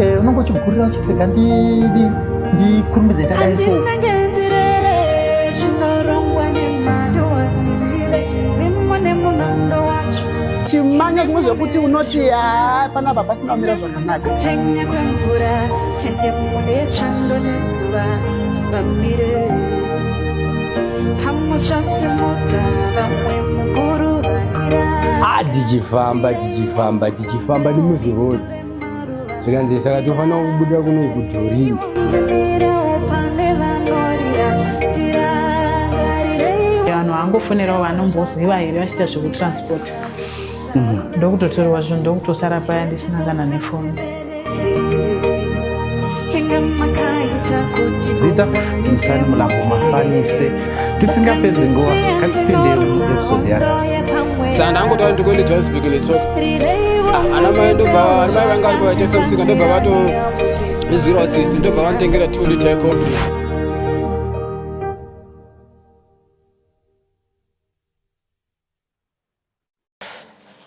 Eh, unongo chigurira uchitega ndidi ndikurumbidze ndadai so. chimanya zvimwe zvekuti unoti haa pana baba sina kumira zvakanaka kupenya kwemvura ende mune chando nezuva vamire pamuchasimudza vamwe mukuru vatira ah, tichifamba tichifamba tichifamba nemuzirodi zvikanzi saka tofanira kubuda kunoi kudhorini vanhu vangofonerawo vanomboziva here vachiita zvekutransport mhm. ndokutotorwa zvinhu ndokutosara paya ndisina kana nefoni zita timsani mulambo mafanise tisingapedzi nguva katipindei episode yanhasi saka ndangotaura ndikuende johannesburg netsoka ah, ana mai ndobva ana mai vanga vari pavaitesa musika ndobva vato izwirawo tsitsi ndobva vanditengera two liter coffee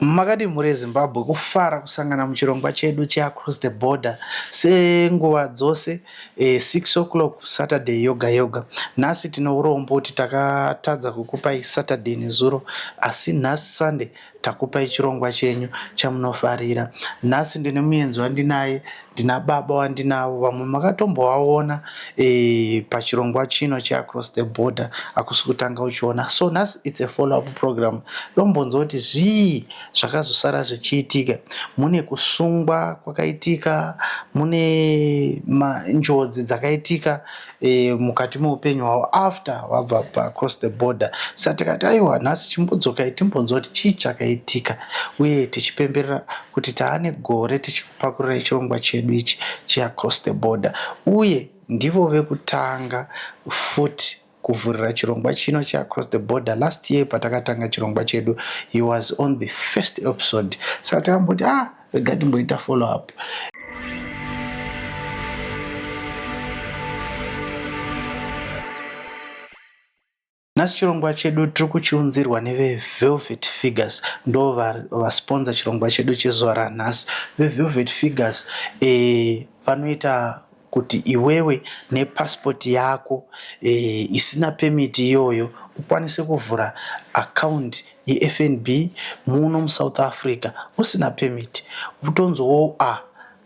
Makadii mhuri yeZimbabwe, kufara kusangana muchirongwa chedu cheAcross the Border senguva dzose eh, 6 o'clock Saturday yoga yoga. Nhasi tine urombo kuti takatadza kukupai Saturday nezuro, asi nhasi Sunday takupai chirongwa chenyu chamunofarira. Nhasi ndine muenzi wandinaye Ndina baba wandinavo vamwe makatombovaona eh, pachirongwa chino cheacross the border akusi kutanga uchiona so nhasi its a follow up program dombonzwa kuti zvii zvakazosara zvichiitika mune kusungwa kwakaitika mune njodzi dzakaitika e, mukati meupenyu hwavo after vabva paacross the border sa tikati aiwa nhasi chimbodzokai timbonzwa kuti chii chakaitika uye tichipemberera kuti taane gore tichi Pakurira ichirongwa chedu ichi cheAcross the Border uye ndivo vekutanga futi kuvhurira chirongwa chino cheAcross the Border. Last year patakatanga chirongwa chedu he was on the first episode saka takamboti ah rega timboita follow up Nhasi chirongwa chedu tiri kuchiunzirwa neveVelvet Figures ndo vasponza chirongwa chedu chezuva ranhasi. VeVelvet Figures eh, vanoita kuti iwewe nepassport yako eh, isina permit iyoyo ukwanise kuvhura account yeFNB muno muSouth Africa usina permit utonzwawo ah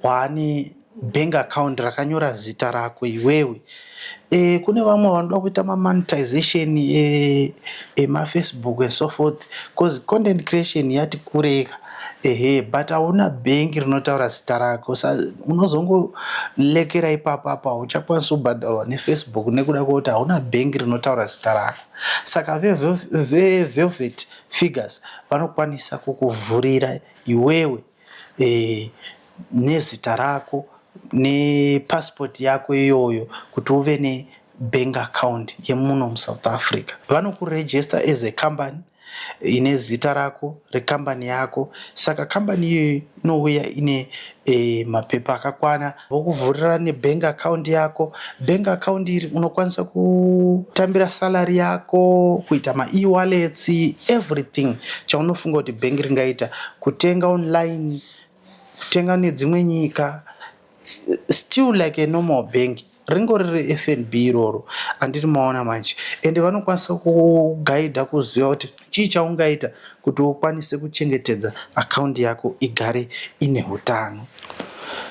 waane bank account rakanyora zita rako iwewe e, kune vamwe vanoda kuita mamonetization e, emafacebook and so forth bcause content creation yati kureka ehe but hauna bank rinotaura zita rako sa unozongolekera ipapo apa hauchakwanisi kubhadharwa nefacebook nekuda kwekuti hauna bank rinotaura zita rako saka vevelvet figures vanokwanisa kukuvhurira iwewe nezita rako nepasipoti yako iyoyo kuti uve nebank account yemuno musouth africa vanokuregister as a company ine zita rako rekambani yako saka kambani iyoyo inouya ine mapepa akakwana vokuvhurira nebank account yako. Bank account iri unokwanisa kutambira salary yako, kuita maewallets, everything chaunofunga kuti bank ringaita, kutenga online, kutenga nedzimwe nyika, still like a normal bank ringori reFNB iroro andiri maona manje ende vanokwanisa kukugaidha kuziva kuti Chii chaungaita kuti ukwanise kuchengetedza akaundi yako igare ine utano?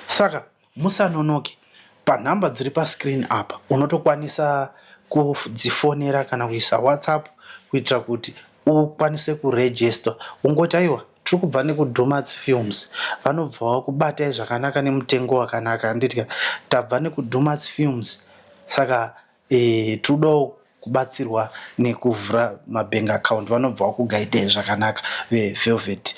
Saka musanonoke, panhamba dziri paskirini apa unotokwanisa kudzifonera kana kuisa WhatsApp kuitira kuti ukwanise kurejesta. Ungoti aiwa tiri kubva nekuDhumats Films vanobva vakubatai zvakanaka nemutengo wakanaka handiti ka? Tabva nekuDhumats Films saka Eeh tiriudawo kubatsirwa nekuvhura mabank account vanobva vakugaidai zvakanaka ve Velvet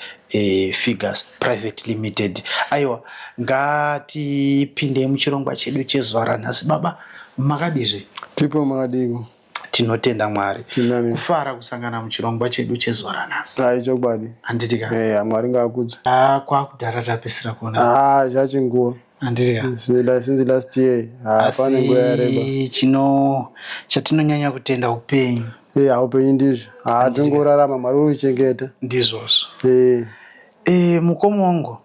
Figures Private Limited. Aiwa ngatipindei muchirongwa chedu chezuva ranhasi baba makadizve? Tiripo makadiiko? Tinotenda Mwari Tirinani. kufara kusangana muchirongwa chedu chezuva ranhasi. Haa ichokwadi. Handiti ka? Eya Mwari ngaakudzwe. Haa kwakudhara tapedzisira kuonana. Haa zvachinguva. handiti ka Since- since last year ah, pane nguva yareba asi chino chatinonyanya kutenda upenyu Eh, haupenyu ndizvo Ah, tongorarama mwari uri kuchengeta ndizvozvo Eh, e, mukoma wangu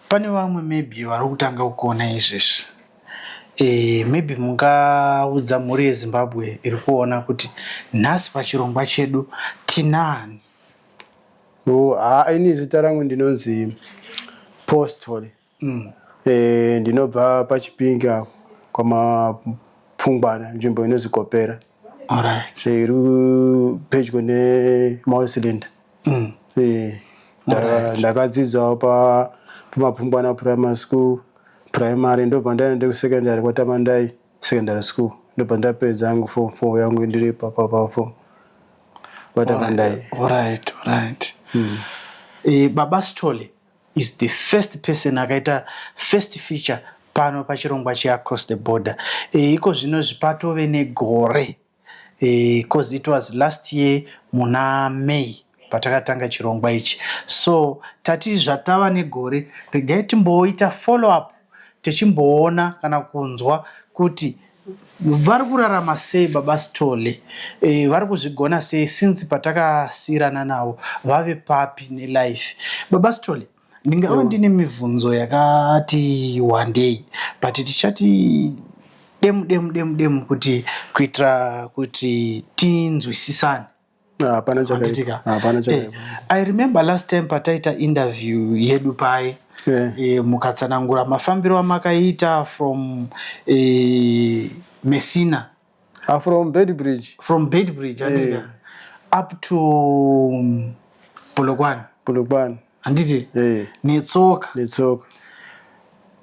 pane vamwe maybe vari kutanga kuona izvezvi e, maybe mungaudza mhuri yezimbabwe iri kuona kuti nhasi pachirongwa chedu tinaani Oh, haa ah, ini zita rangu ndinonzi postol mm. E, ndinobva pachipingi apo kwamapfungwana nzvimbo inonzi kopera right. E, iri pedyo nemausilinda mm. E, right. ndakadzidzawo pamapfungwana primary school primary ndobva ndaenda kusecondary kwatamandai secondary school ndobva ndapedza yangu form four yangu ndiri papa pafo vatavandai Alright, alright. Eh, Baba Sithole is the first person akaita first feature pano pachirongwa cheAcross the Border. Eh, iko zvino zvi- patove negore Coz it was last year muna May patakatanga chirongwa ichi so tati zvatava negore regai timboita follow up techimboona kana kunzwa kuti vari kurarama sei baba Sithole, vari kuzvigona sei since patakasiirana navo vave papi nelife. Baba Sithole, Ndingava ndine mibvunzo yakati wandei but tichati demu demu demu demu kuti kuitira kuti tinzwisisane. Hapana chakaipa. Hapana eh, chakaipa. I remember last time pataita interview yedu paye yeah. e, eh, mukatsanangura mafambiro amakaita from e, Messina Ah, from Beitbridge. From Beitbridge, handiti? Yeah. Up to um, Polokwane. Polokwane. Handiti? Yeah. Netsoka. Netsoka.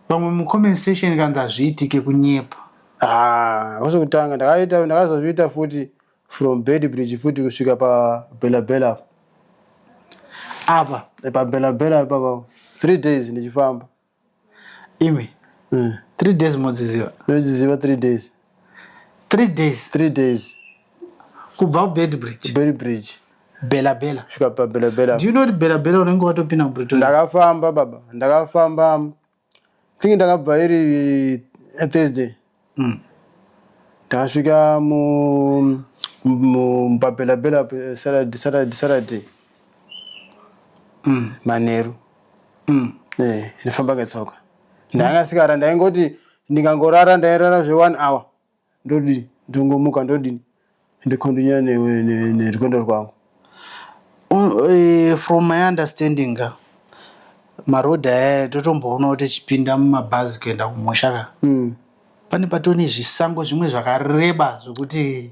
Pamwe mucomment section kanzi hazviitike kunyepa. Ah, kwose kutanga ndakaita ndakazozviita futi from Beitbridge futi kusvika pa Bella Bella. Apa. Eh, pa Bella Bella apa pa 3 days ndichifamba. Imi. Mm. Three days modziziva. Ndodziziva three days. Three days. Three days. Kubva kubed bridge. Bed bridge. Bela bela. Svika pa bela bela. Do you know bela bela unenge watopinda mu Pretoria? Ndakafamba baba. Ndakafamba. Thingi ndakabva iri eh, Thursday. Umm tasvika pabhela bhela Saturday Saturday Saturday umm manheru umm eh ndifamba ngetsoka ndanga ndisingarari ndaingoti ndikangorara ndairara zve one hour ndodii ndongomuka ndodini ndicontinue nerwendo rwangu eh, from my understanding ka maroad aya totomboona kuti tichipinda mumabhazi kuenda kumusha ka mm. pane patoo nezvisango zvimwe zvakareba zvekuti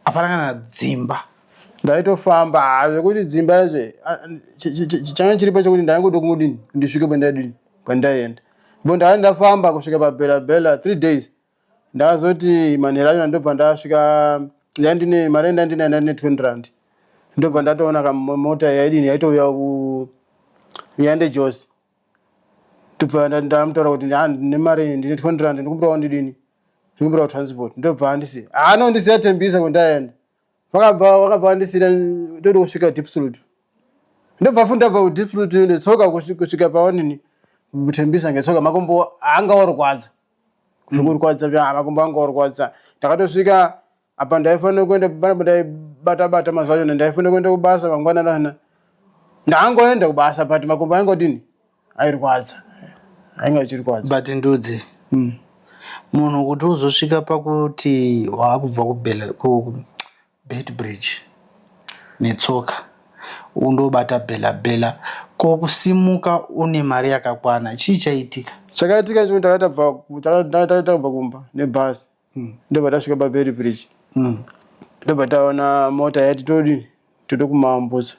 hapana kana dzimba ndaitofamba ah, zvekuti dzimba izve ah, changa chiripo chekuti ndaingoda kungudini ndisvike pandaidini pandaienda bo ndai ndafamba kusvika pabela bela three days Ndazoti manheru achona ndobva ndasvika yandine mari yandandinayo ndandine 20 rand ndobva ndatoona kamota yaidini yaitouya yande Josi ndobva ndamutaura kuti ndine mari ndine 20 rand ndikumbira wandidini ndikumbira transport ndobva andisi ano ndisiya Tembisa kwendaenda vakabva vakabva vandisira ndode kusvika deep slut ndobva futi ndabva kudeep slut ndotsoka kusvika pawanini Tembisa ngetsoka makumbo anga orwadza zvikurwadza mm. zva makumbo anga orwadza ndakatosvika apa ndaifanira kuenda panapa ndaibata bata mazuva achona ndaifanira kuenda kubasa mangwananana ndaangoenda kubasa but makumbo ainge odini airwadza ainge achirwadza but ndudzi mm. munhu kuti uzosvika pakuti waakubva Beitbridge netsoka undobata Bella Bella ko kusimuka une mari yakakwana chii chaitika? Chakaitika chekuti takanga tabva ku- taka- taka- taka- takabva kumba nebhazi ndobva tasvika pabeitbridge Mm. ndobva taona mota yati todi tode kumaambutsa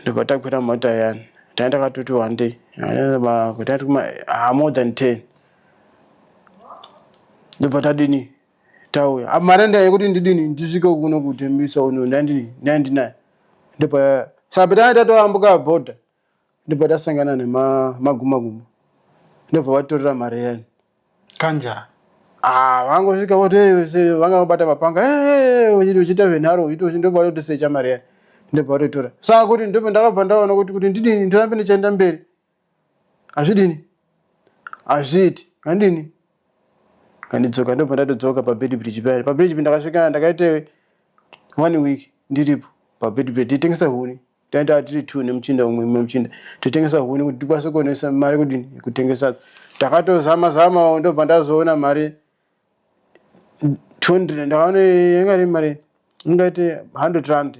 ndobva takwira mota yani tanga takatoti wandei tati kuma ah, more than 10 ndobva tadini tauya apa mari andaya yekuti ndidini ndisvike kuno kutembisa uno ndandini ndandinayo ndopaya saka patanga tatoambuka bhodha ndobva tasangana nemagumaguma ndobva vatorera mari yani kanja ah, vangosvika voti vanga vabata mapanga uchiita venharo uchiita ndobva vatotisecha mari yani ndobva vatotora saka kuti ndobva ndakabva ndaona kuti kuti ndidini ndirambe ndichaenda mberi hazvidini hazviiti ngandini ngandidzoka ndobva ndatodzoka pabed bridge payani pabed bridge ndakasvika ndakaite one week ndiripo pabed bridge titengesa huni taita tiri two nemuchinda umwe mumwe muchinda totengesa huni kuti tikwanise kuonesa mari kudini kutengesa takatozama zama ndobva ndazoona mari 200 ndakaona yanga iri mari ingaite 100 rand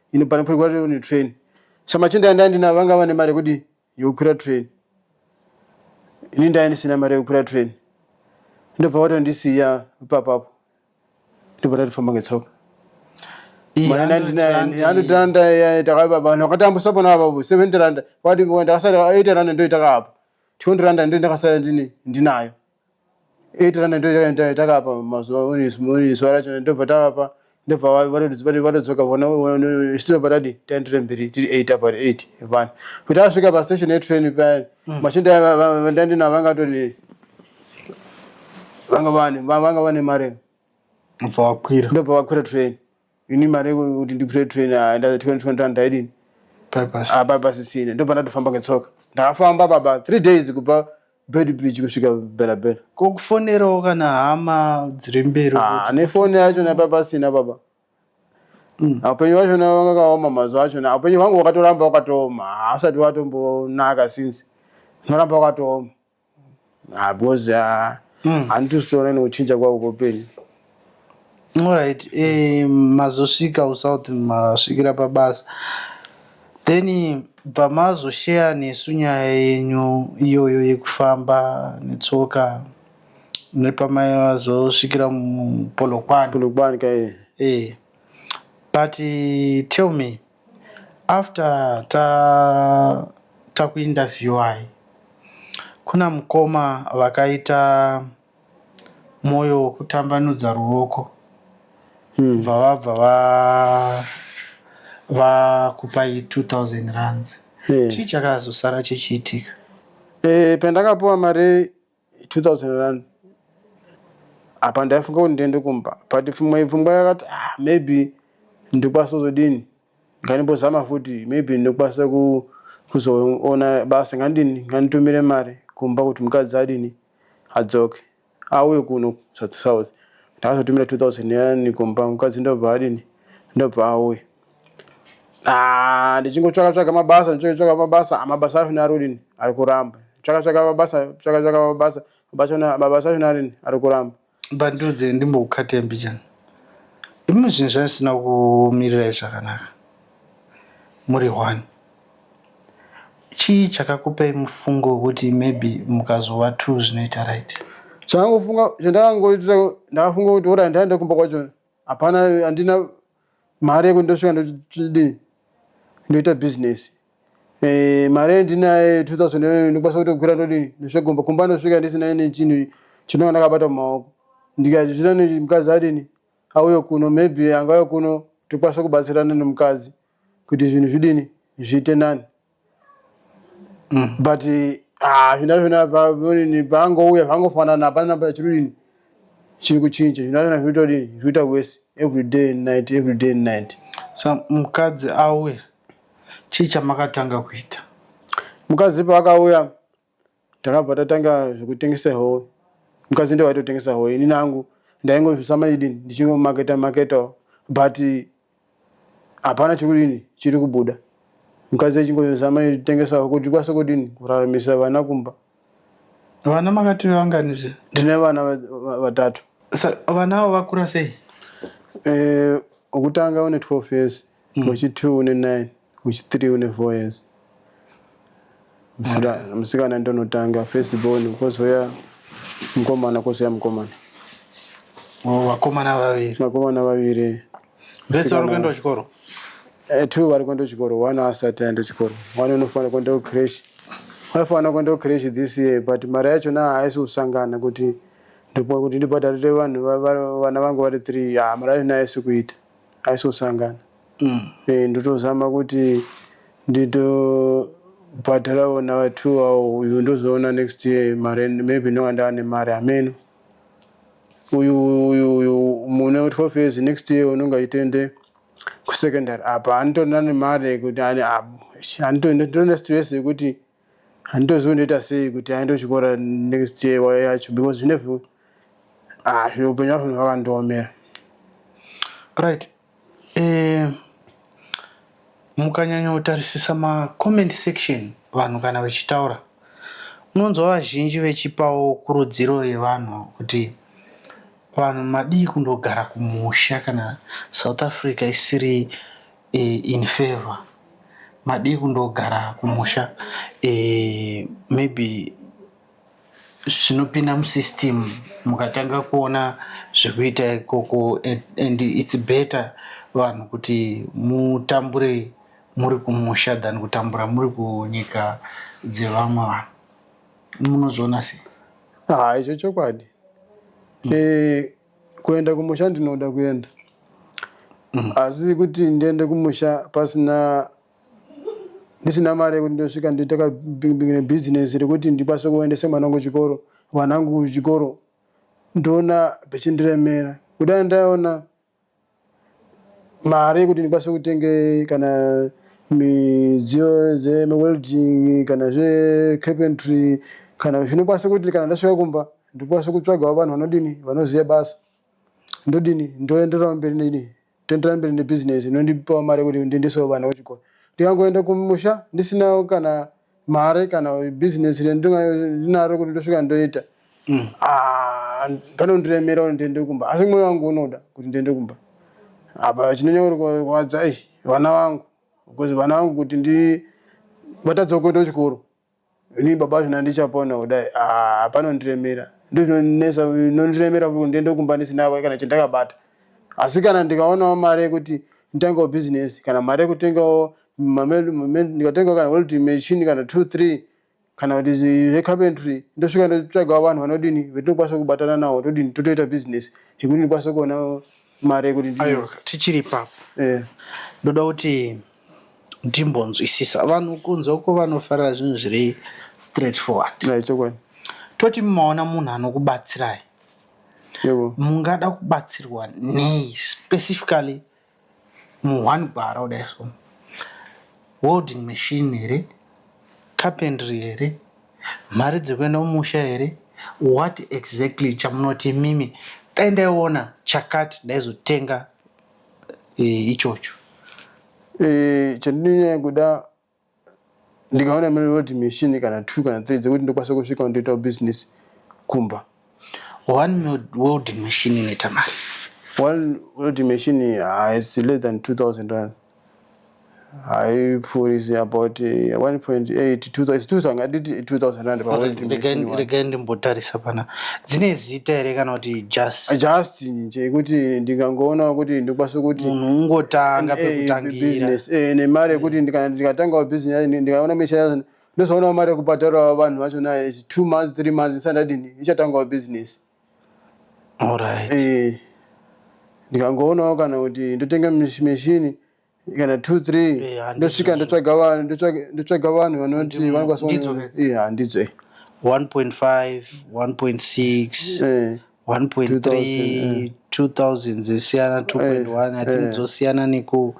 ini pano pari kwati une train samachinda yandai ndinavo vanga vane mari yekuti yekukwira train ini ndai ndisina mari yekukwira train ndobva vatondisiya ipapapo ndobva tatofamba ngetsoka anotanda vanhu vakatambusa pona avavo seventy randa vati ndakasara eighty randa ndoitaka apo twenty randa ndo ndakasara ndinayo 8 rand ndoita takapa mazuva one zuva racho ndobva tavapa ndobva vatodzoka vona still patadi taenderere mberi tiri 8 apa 8 vana kuti asvika pastation yetrain payani mm. machinda vandandina vangatoni vanga vane vanga vane mari ndobva vakwira ndobva vakwira train ini mari yekuti ndipure train ndaza 2020 rand ndaidini apapasisina ah, ndobva ndatofamba ngetsoka ndakafamba baba three days kubva bedbridge kusvika belabela kokufonerawo kana hama dziri mberi ah, nefoni yacho napapasina baba Mm. upenyu wacho na wanga kaoma mazuva acho na upenyu hwangu wakatoramba wakatooma hausati watombonaka since noramba wakatooma Because ah, mm. handitusiona nekuchinja kwavo kweupenyu Alright, eh, mazosvika usouth masvikira pabasa then bva mazosheya nesu nyaya yenyu iyoyo yekufamba netsoka nepamazosvikira mupolokwani polokwane kaye eh. but tell me After ta taku interviewer kuna mukoma vakaita moyo wekutambanudza ruoko bva vabva va vakupai 2000 rands chii chakazosara chichiitika. Pandakapiwa mari 2001 apa ndaifunga kuti ndiende kumba but pfumwe pfungwa yakati ah, maybe ndikwanisa kuzodini ngandimbozama futi maybe ndikwanisa kuzoona basa ngandini nganditumire mari kumba kuti mukadzi adini adzoke auye kuno south ndakazotumira 2000 yani kumba mukadzi ndobva adini ndobva auye Ah, ndichingotsvaka tsvaka mabasa ndichingotsvaka mabasa ah, mabasa acho narini ari kuramba tsvaka tsvaka mabasa tsvaka tsvaka mabasa mabasa na- mabasa acho narini ari kuramba but ndudze ndimbokukatei mbichana imi zvinhu zvandisina kumirirai zvakanaka muri one chii chakakupai mufungo wekuti maybe mukazova two zvinoita right chandangofunga chandakangoita ndakafunga kuti ora ndaenda kumba kwacho hapana handina mari yekuti ndosvika ndodii ndoita business eh, mari yendinaye 2000 ndokwanisa kutokwira ndodii ndosvegomba kumba ndosvika ndisina ine chinhu chinova ndakabata mumaoko ndikati zvina mukadzi adini auye kuno maybe angauye kuno tokwanisa kubatsirana nemukadzi kuti zvinhu zvidini zviite nani Mm, but ah, zvina zvina paonini pangouya zvangofanana hapana pachirudini chiri kuchinja zvina zvina zviri todini zviri kuita worse every day and night every day and night sa mukadzi auya chii chamakatanga kuita mukadzi paakauya Takabva tatanga zvekutengesa howe. Mukadzi ndiye waitotengesa howe. Inini hangu ndaingozama idini ndichingomaketa maketawo but hapana chiri kudini chiri kubuda. Mukadzi achingozama kutengesa howe kuti tikwanise kudini kuraramisa vana kumba. Vana makati vangani zve? Ndine vana vatatu. Vana avo vakura sei? Eh, wokutanga une 12 years, mm. uchi 2 une 9 uchi 3 une 4 years musikana musikana ndonotanga first born kozouya mukomana kozouya mukomana oh, vakomana vaviri vakomana vaviri vese vari kuenda kuchikoro eh, two vari kuenda kuchikoro one asati aenda kuchikoro one unofanira kuenda kucresh vaifanira kuenda kucresh this year but mari yacho na haisi kusangana kuti ndokuti ndibhadharire vanhu vana vangu vari three ah, mari yacho na haisi kuita aisosangana eh ndotozama kuti nditobhadharawo nawo two awo uyu ndozoona next year mari maybe ndinonga ndava nemari hameno uyu uyu uyu mune 12 years next year unonga achitoende kusecondary apa anotoona nemari yekuti ani apo anditonda stress yekuti Handitozivi ndoita sei kuti aende kuchikora next year yacho because zvinevhu ah zviro upenyu hwacho hwakandiomera. Right. Eh, mukanyanyotarisisa macomment section vanhu kana vachitaura unonzwa vazhinji vechipawo kurudziro yevanhu kuti vanhu madii kundogara kumusha kana south africa isiri in favour madii kundogara kumusha maybe zvinopinda musystem mukatanga kuona zvekuita ikoko and its better vanhu kuti mutambure muri kumusha than kutambura muri kunyika dzevamwe vanhu munozviona sei ah, izvo chokwadi mm. e, kuenda kumusha ndinoda kuenda Asi kuti ndiende kumusha pasina ndisina mari yekuti ndosvika ndoita ka business rekuti ndikwanise kuendesa mwana wangu kuchikoro vana vangu kuchikoro ndoona zvichindiremera kudai ndaona mari yekuti ndikwanise kutenge kana midziyo dzemawelding kana zvecarpentry kana zvinokwanisa kuti kana ndasvika kumba ndikwanise kutsvagawo vanhu vanodini vanoziva basa Ndodini? Ndoendererawo mberi nei? Toenderera mberi nebhizinesi inondipawo mari yekuti ndiendesewo vana kuchikoro. Ndikangoenda kumusha ndisinawo kana mari kana bhizinesi randinga ndinaro kuti ndosvika ndoita, ah, panondiremera kuti ndiende kumba. Asi mwoyo wangu unoda kuti ndiende kumba. Apa chinonyanya kurwadza, eish, vana vangu. Because vana vangu kuti ndi, vatadzawo kuenda kuchikoro. Ini baba zvina ndichapona kudai ah panondiremera ndozvinonesa nondiremera kuti ndiende kumba ndisina kana chandakabata asi kana ndikaonawo mari yekuti nditangewo business kana mari yekutengawo ndikatengawo kana welding machine kana two three kana kuti zvecarpentry ndosvika ndotsvagawo vanhu vanodini vetinokwanisa kubatana nawo todini totoita business yekuti ndikwanise kuonawo mari yekuti aiwa tichiri ipapo eh. ndoda kuti ndimbonzwisisa vanhu kunze uko vanofarira zvinhu zviri straight forward chokwadi toti mumaona munhu anokubatsirai mungada kubatsirwa nei specifically muone gwara kudai so welding machine here carpentry here mari dzekuenda mumusha here what exactly chamunoti imimi dai ndaiona chakati ndaizotenga eh, ichocho eh, chandinonyanya kuda ndikaona mari roti mishini kana two kana three dzekuti ndokwanisa kusvika ndoitawo business kumba one welding machine inoita mari one welding machine haisi less than 2000 rand haipfuurisi about 1.8 it's 2000 ngatiti 2000 rand paunit machine one regai ndimbotarisa pana dzine zita here kana kuti just just nje kuti ndikangoonawo kuti ndikwanise kuti munhu ungotanga eh, pekutangira business eh nemari yekuti mm. kana ndikatangawo business yacho ndikaona misha yacho ndozoonawo mari yekubhadharawo vanhu vacho naye is two months three months ndisati ndadini ichatangawo business all right eh ndikangoonawo kana kuti ndotenge mishini kana two three eh, ndosvika ndotsvaga vanhu ndotsvaga vanhu vanoti vanokwasahandidzo 1.5 1.6 1.3 2000 dzesiyana 2.1 i think dzosiyana neku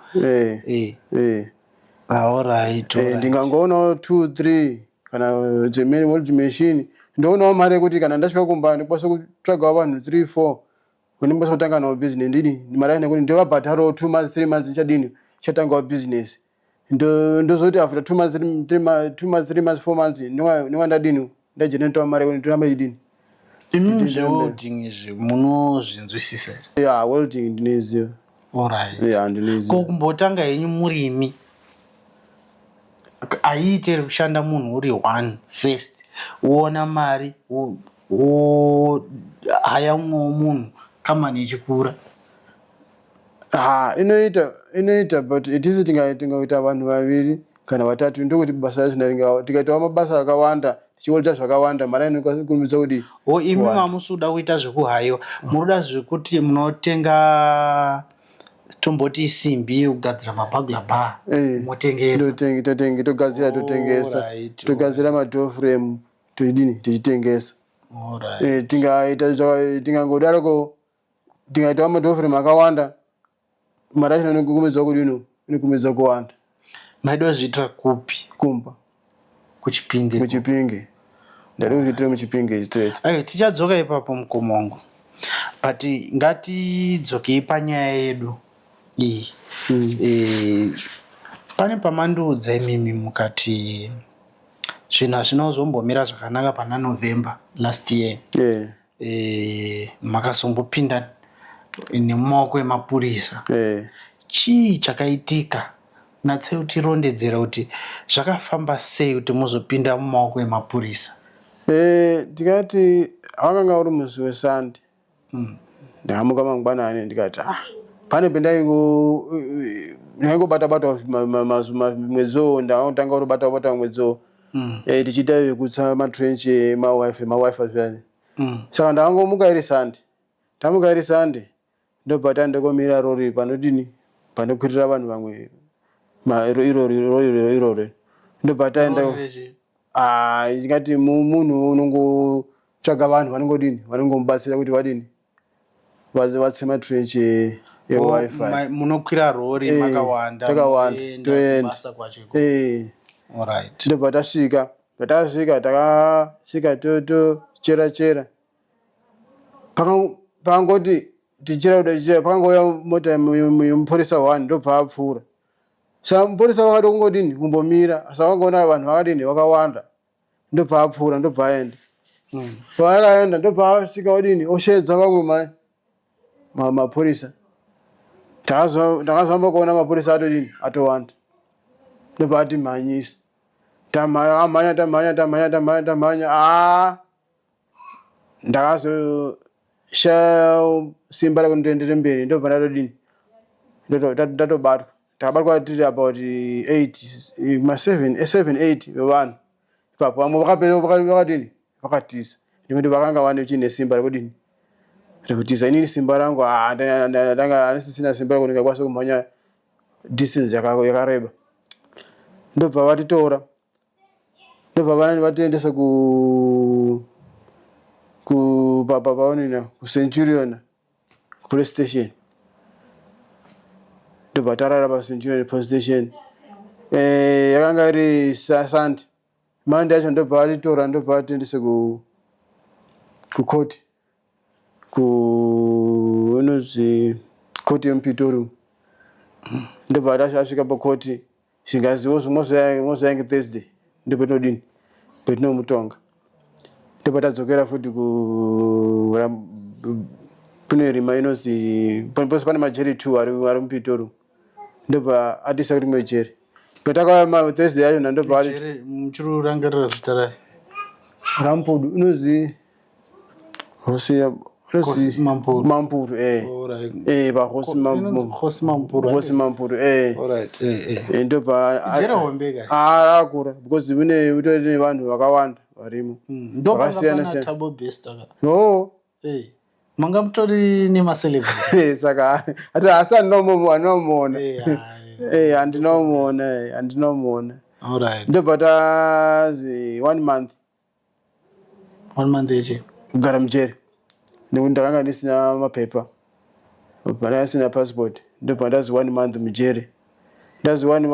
aorit ah, eh, ndingangoonawo two three kana dzemene world machine ndoonawo mari yekuti kana ndasvika kumba ndikwanisa kutsvagawo vanhu three four Kune mbosa kutanga nawo business ndini ndimara nekuti ndovabhataro two months three months ndichadini chatangawo business ndo ndozoti after two months three three ma- two months three months four months ndinga ndinga ndadini ndajenetoa mari kuti nditora mari yedini imi Ndiri mberi. zvewelding izvi munozvinzwisisa here? ya welding ndinoiziva Alright. ya ko ndinoiziva kumbotanga henyu murimi ayiite rekushanda munhu uri one first woona mari wo- wohaya umwewo munhu kambani ichikura ha inoita inoita but at least tingaita vanhu vaviri kana vatatu ndokuti basa racho ndaringawo tikaitawo mabasa akawanda tichiolita zvakawanda mari anokurumidza kudii o imi mamusi uda kuita zvekuhaiwa munoda zvekuti munotenga tomboti isimbi yekugadzira mabagla ba eh, motengesa totengesa togadzira totengesa togadzira madoframe tichidini tichitengesa eh, tingaita tingangodaroko tingaitawo madhofrem akawanda mari yacho inokumidza kudino inokumidza kuwanda maida kuzviitira kupi kumba kuchipinge kuchipinge ndari kuzviitira muchipinge straight ayo tichadzoka ipapo mukoma wangu but ngatidzokei panyaya yedu iyi mm. e, pane pamandiudza imimi mukati Zvinhu hazvina kuzombomira zvakanaka pana November last year. Yeah. Eh, makazombopinda nemumaoko emapurisa. Yeah. Chii chakaitika? Natsei utirondedzera kuti zvakafamba sei kuti muzopinda mumaoko emapurisa. Eh, tikati wakanga uri musi weSunday. mm. ndakamuka mangwanani ndikati ah pane pendaingobata bata mwedzi wo ndakatanga kutobata bata mwedzi wo mm. eh, tichiita zvekutsa matrench mawife mawife zviyani mm. saka ndakangomuka iri sande tamuka iri sande ndobva tandokomira rori panodini panokwirira vanhu vamwe irori irori irori ndobva taenda Ah, ndingati mu- munhu unongotsvaga vanhu vanongodini vanongomubatsira kuti vadini Vas- vatse matrench e- Oh, ewifi ma- munokwira rori Eh, makawanda takawanda, moenda toenda. kubasa kwacho ikoko. Eh, Alright. ndobva tasvika patakasvika takasvika to- tochera chera Paka- pakangoti tichera kuda tichera pakangouya mota yemu- yemu- yemupurisa one ndobva apfuura Sa mupurisa vakada kungodini kumbomira asi vakangoona vanhu vakadini vakawanda ndobva apfuura ndobva aenda mm. paakaenda ndobva asvika odini osheedza vamwe mai mapurisa ndakazovamba kuona mapurisa atodini atowanda ndobva atimhanyisa tamhanya tamhanya tamhanya tamhanya tamhanya aa ah. ndakazoshaya simba rekuti ndoendere mberi ndobva ndatodini Ndoto- ndat- ndatobatwa takabatwa tiri about 8 ma7 8 vevanhu ipapo vamwe vakapera vaka- vakadini vakatiza nekuti vakanga vane chine simba rekudini rekutiza inini simba rangu ah, nda- nda- ndanga andisisina simba rekuti ndingakwanisa kumhanya distance yaka- yakareba ndobva vatitora ndobva vani vatoendesa ku kupapa paonina kucenturion police station ndobva tarara pacenturion police station eh, yakanga iri sunday mande yacho ndobva atitora ndobva atiendese ku kucourt ku unozvi court yemupitori ndobva asvika pakoti zvingazi mozvayange thursday ndopetinodini petinomutonga ndobva tadzokera futi ku kune rima inonzi pose pane majeri two ari mupitori ndobva atiisa kuti mwe jeri patakauya ma thursday yacho na ndobva ati Jere muchiri kurangarira zita rayo. rampudu unonzi hosi ya- unonzi Hosi Mampuru. mampuru eh Alright. eh pa hosi Inonzi mampuru Hosi Mampuru. hosi mampuru eh Alright. Eh eh. Eh, ndobva a- Jere hombe ka. Ah, akura because mune utori nevanhu vakawanda varimo Mm. Ndopanga Vakasiyana pana siyana. Tabo Bester ka. no Hey. manga mutori nemacelebrit saka ati asi andinomuona eh, andinomuona eh, andinomuona ndobva tazi one month one month eche kugara mujeri nekuti ndakanga ndisina mapepa pana asina passport ndobva ndazi one month mujeri ndazi one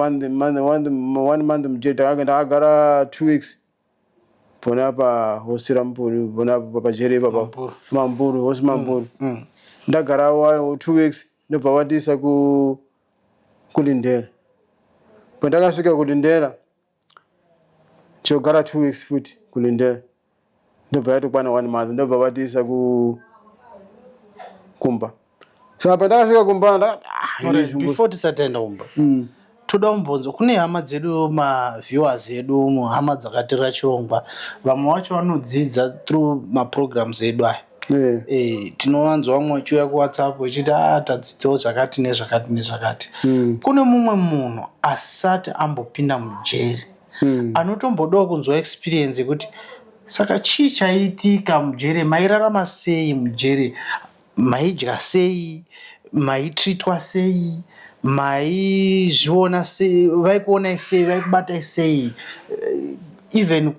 month mujeri ndakagara two weeks pona pa hosi rampuru pona pajeri ipapa mampuru hosi mampuru mm, mm. ndagara wa two weeks ndobva vandiisa ku kulindera pandakasvika kulindera chogara two weeks futi kulindera ndobva yatokwana one month ndobva vatiisa ku kumba saka pandakasvika kumba ndakati ah, Alright, izvi before tisataenda kumba Mm. toda kumbonzwa kune hama dzedu maviewers edu umo hama dzakatirira chirongwa vamwe vacho vanodzidza through maprograms edu aya Eh, Eh, tinowanzwa vamwe vachiuya kuwhatsapp vachiti ah tadzidzawo zvakati nezvakati nezvakati Mm. kune mumwe munhu asati ambopinda mujeri Mm. anotombodawo kunzwa experience yekuti saka chii chaiitika mujeri mairarama sei mujeri Maidya sei, maitreatwa sei, maizviona sei, vaikuonai sei, vaikubatai sei, eh, even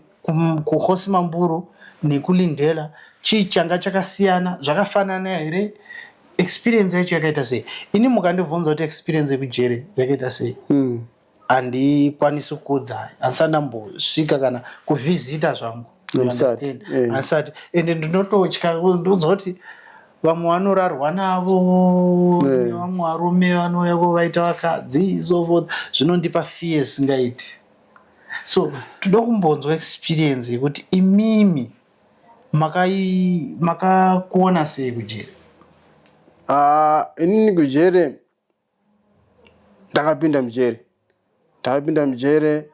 kuhosi mamburu nekulindela chii changa chakasiyana, zvakafanana here, experience yacho yakaita sei. Ini mukandibvunza kuti experience yekujere yakaita sei, mm. handikwanisi kukudza handisati ndambosvika kana kuvhizita zvangu handisati eh. ende ndinototya ndonzwa kuti vamwe vanorarwa navo eh. vamwe varume vanouya vaita vakadzi so forth zvinondipa fear singaiti so toda kumbonzwa experience yekuti imimi makakuona sei kujeri ah, inini kujeri ndakapinda mujeri ndakapinda mujeri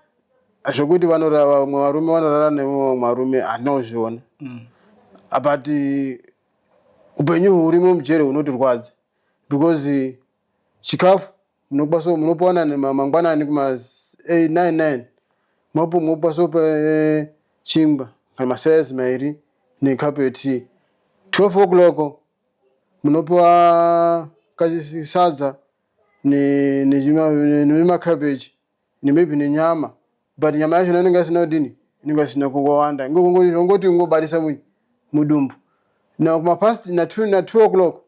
zvekuti vanorara vamwe varume vanorara nevamwe varume handina kuzviona mm. but upenyu hurimo mujeri hunotirwadza because chikafu munokwaso munopawana mangwanani kuma 99 mapo mokwaso pa eh, chingwa kana masayas mairi nekapu yetii 12 o'clock munopiwa kasadza nema cabbage maybe nenyama but nyama yacho inenge isina kudini inenge isina kungowanda ingongoti kungobarisa mudumbu now kuma past na 2 o'clock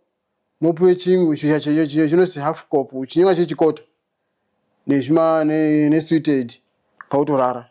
mopiwe chimwe chiyo chinoti half cop chinenge chechikota nesweet aid kwakutorara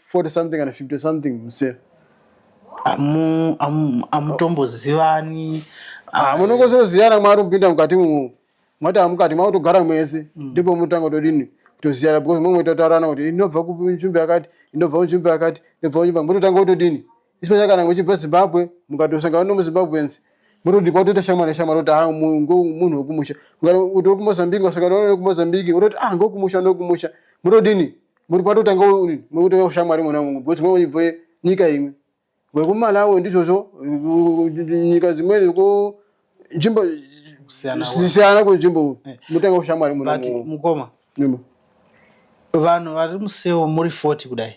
40 something kana 50 something muse amu amu amutombozivani ah, munongozoziyana mwari mupinda mukati mumu mwati amukati makutogara mwese mm. ndipo mutanga todini kutoziyana because mumwe totaurana kuti inobva kunzvimbo yakati inobva kunzvimbo yakati inobva kunzvimbo mototanga kutodini Especially kana uchibva Zimbabwe mukatosangana nomuZimbabweans murudi kwatoita shamwari neshamwari kuti ha munhu wekumusha kana kuti wekumozambique wasangana none wekumozambique unoti ah ngokumusha ndokumusha munodini muri kwatotanga murikutanga ushamwari mwona mumwe because mwe ibve nyika imwe wekumalawi ndizvozvo nyika dzimweni ko nzvimbo zvisiyana kunzvimbo eh. mutanga ushamwari mukoma vanhu vari museo muri 40 kudai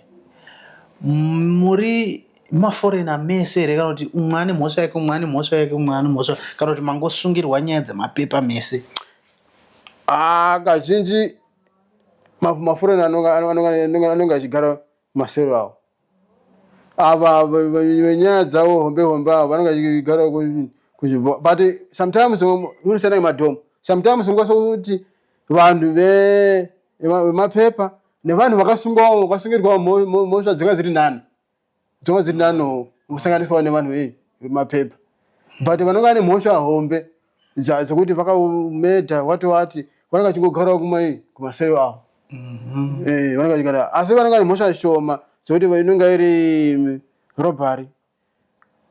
muri maforena mese here kana kuti umwe ane mhosva yake umwe ane mhosva yake umwe ane mhosva kana kuti mangosungirwa nyaya dzemapepa mese ah, kazhinji maforena anonge achigara Masero awo ava venyaya dzavo hombe hombe avo vanenge vachigara kunzvimbo but sometimes unosiyana nemadhomu sometimes ungasa kuti vanhu vemapepa nevanhu vakasungwawo vakasungirwawo mhosva dzinga dziri nani dzinga dziri nanowo kusanganiswawo nevanhu vemapepa but vanenge vane mhosva hombe Zaa dzekuti vakamedha wati wati vanenge vachingogarawo kumai kumaseo avo. Mhm. Eh, vanenge vachigara asi vanenge vane mhosva shoma dzekuti va- inenge iri mm, robbery.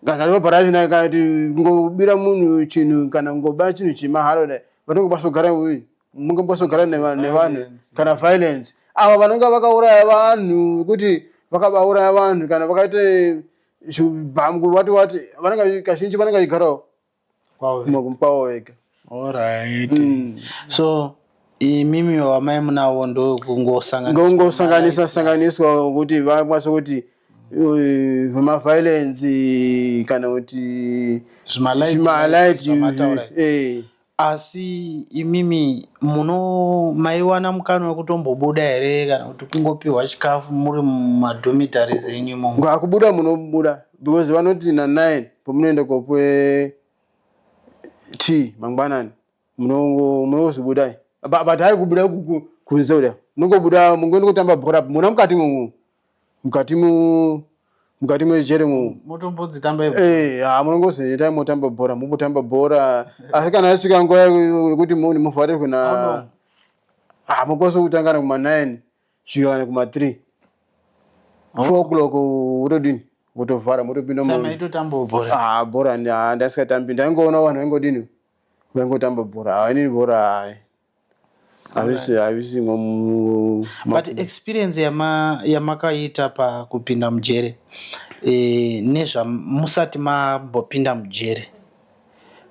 Kana robbery yacho nayo kana kuti kungobira munhu chinhu kana kungoba chinhu chemahara kudai vanenge vasogara uyu munge vasogara neva- nevanhu Violence. kana violence. Ava vanenge vakauraya vanhu vekuti vakabauraya vanhu kana vakaite zvibhamu wati wati vanenge vachi- kazhinji vanenge vachigarawo kwaoekwawo wega orit mm. so imimi wamai munavo ndokungosanganisa sanganiswa wokuti vakwanise kuti eh, vemaviolence kana kuti zvimalight eh. asi imimi muno maiwana mukana wekutombobuda here kana kuti kungopiwa chikafu muri mumadhomitaries enyu imomo kubuda munobuda because vanoti na9 pamunoenda kopwe tea mangwanani munongozvibudai but hari kubuda kunze kuda munongobuda mungoenda kutamba bhora mona mukati momu mukati mu mukati mejere momu motombodzitambai eh, ha munongozoitai motamba bhora mukutamba bhora asi kana yasvika nguva yekuti muvharirwe na hamukosi kutangana kuma 9 svika kana kuma 3 4 o'clock wotodini motovhara motopinda ah, bhora ah, ndasikatambi ndaingoona vanhu vaingodini vaingotamba bhora hainini ah, bhora hai havisimwa but experience yamakaita pakupinda mujere eh, nezvamusati mambopinda mujere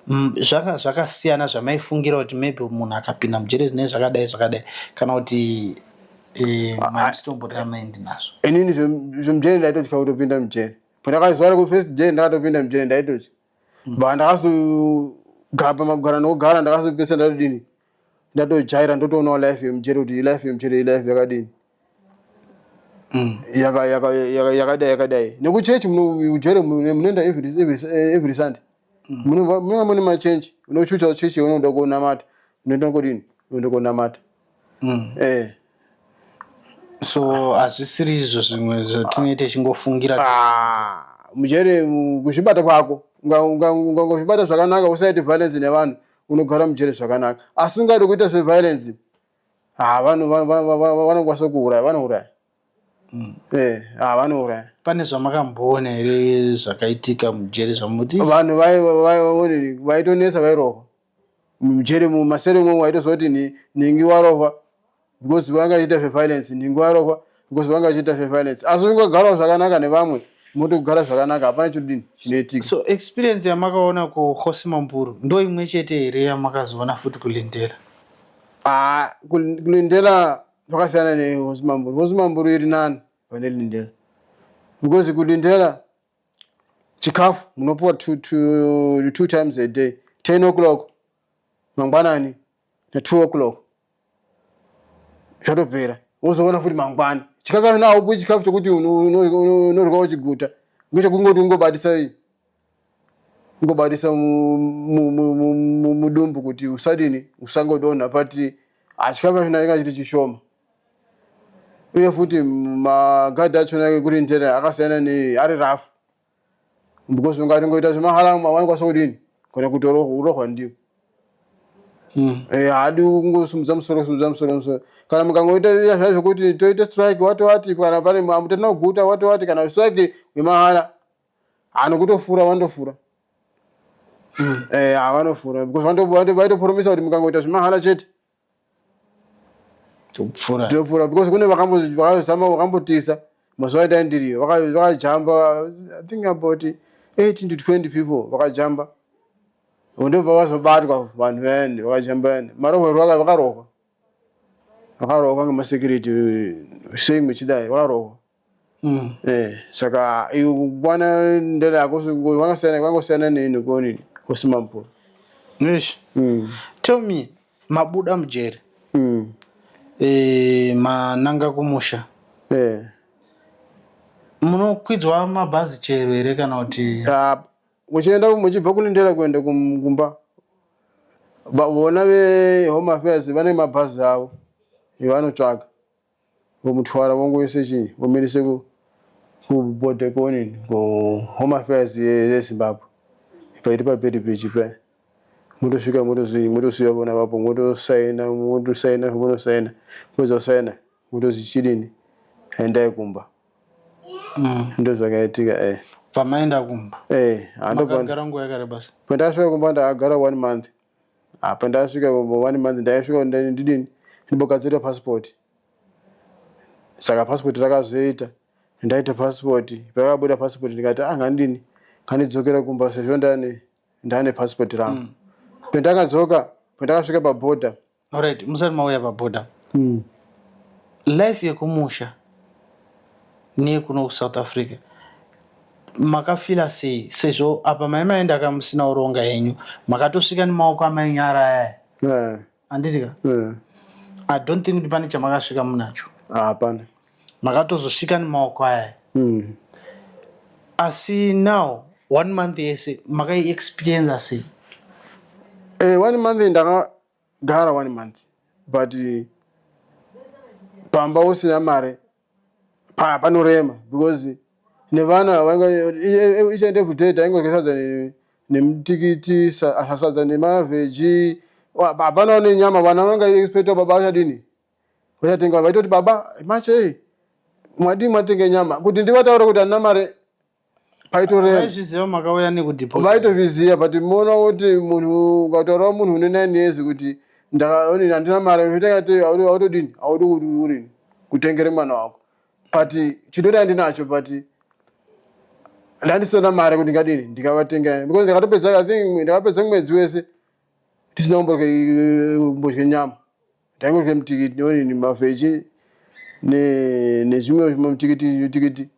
Mm, zvanga zvakasiyana zvamaifungira kuti maybe munhu akapinda mujere zvine zvakadai zvakadai kana kuti eh, ah, ah. maisitombotira maindi nazvo inini zvemujere ndaitotya kutopinda mujere pandakazuva reku first day ndakatopinda mujere ndaitotya mm. ba ndakazogara pamagwara nokugara ndakazopesa ndatodini ndatojaira ndotoonawo life yemujere kuti life yemujere ilife yakadini Mm, yaka- yaka- yaka- yakadai yakadai nekuchechi mujere munoenda every every- eh, every sunday Munova- munova mune machenji unochucha chechi yaunoda kunamata unoita kodini unoda kunamata Mm. eh so hazvisiri izvo zvimwe zvatinenge tichingofungira Ah, mujere mu- kuzvibata kwako Unga- unga- unga- ungazvibata zvakanaka usaite violence nevanhu unogara mujere zvakanaka asi ungade kuita zveviolence Ah, vanhu va- va- va- va- vanokwanisa kuuraya vanouraya Mm. Eh, ah, vanouraya pane zvamakamboona here zvakaitika mujeri zvamuti vanhu vai- vai- vai- vaitonetsa vairova mujeri mumasere imomo waitozoti ni- ningi warova because vakaita zveviolence ningi warova because vanga vachiita surveillance asi ungagarawo zvakanaka nevamwe motogara zvakanaka hapana chodini chinoitika so experience yamakaona kukhosi mamburu ndo imwe chete here yamakazoona futi kulindela ah, kulindela zvakasiyana nekhosi mamburu khosi mamburu iri nani pane lindela because kulindela chikafu munopuwa two, two, two times a day ten o'clock mangwanani na 2 o'clock zvatopera wozoona futi mangwana chikafu kana haupi chikafu chokuti unorwa uchiguta ngechekungoti ungobatisa ungobatisa mudumbu kuti usadini usangodonha but hachikafu achona inga chiri chishoma uye futi magadhi achona ekurindera akasiyana neari rafu because ungatongoita zvemahala wanokwanisa kudini kana kutorohwa ndiwo hmm. eh, haadi kungosumudza musoro sumudza musoro musoro kana mukangoita iya zvaa zvekuti toite strike wati wati kana pane mutenda kuguta wati wati kana strike yemahara anokutofura vanotofura hmm. eh, vanofura because vaitoporomisa kuti mukangoita zvemahara chete topfura topfura because kune vakambozama vakambotisa mazuva aita ndiriyo vakajamba i think about 18 to 20 people vakajamba ndobva vazobatwa vanhu vayani vakajamba yani marohwerwo aka vakarohwa vakarohwa ngemasecurity sei muchidai vakarohwa Mm. Eh, saka iwe kukwana ndera yako ngo- kwakasiyana kwakasiyana nei nekuonini kusima mvura. Eish. Mm. Tell me, mabuda mujeri, Mm. eh, mananga kumusha. Eh. Munokwidzwa mabhazi chero here kana kuti Ah, muchienda muchibva kune ndera kuenda kum- kumba. Ba- Vona ve home affairs vane mabhazi avo. Vanotsvaga. Vomutwara vongoisa chii vomirisa ku kuboard kuonini ku home affairs yezimbabwe paiti paperi pechi paya motosvika motozii motosiya vona vapo motosaina motosaina zvamonosaina mopedza kusaina motozi chidini endai kumba mm. ndozvakaitika eh. pamaenda kumba eh, makagara nguva yakareba sei pandakasvika kumba ndakagara one month Ah, pandasvika ivo one month ndaisvika ndani ndidini ndimbogadzirira passport. Saka passport rakazoita ndaita passport pakabuda passport ndikati ah ngandini ngandidzokera kumba sezvo ndane ndane passport rangu. Pandakadzoka pandakasvika paborder Alright, musati mauya paboda. Mm. Life yekumusha neyekuno kuSouth Africa makafila sei sezvo apa mai maenda ka musina uronga henyu makatosvika nemaoko amai nyara aya yeah. anditika yeah. i don't think kuti pane chamakasvika munacho hapana ah, makatozosvika nemaoko aya mm. asi now one month yese makaiexperienza sei eh, one month ndaka gara one month but pamba usina mari pa panorema because nevana vanga each and every day taingodya sadza nemutikiti sadza nemaveji hapana one nyama vana vanga expecta baba vachadini vachatenga vaitoti baba machei mwadii mwatenga nyama kuti ndivataure kuti handina mari paitorevavaitozviziva but moona kuti munhu ukataurawo munhu une nine years kuti handina mari autodini audi kuti urini kutengere mwana wako but chidori andinacho but ndandisina mari kuti ndingadini ndikavatengera because ndakatopedza i think ndakapedza mwedzi wese ndisina kumbodya nyama Tangoita mutikiti newani nemafeche nezvimwe mutikiti mutikiti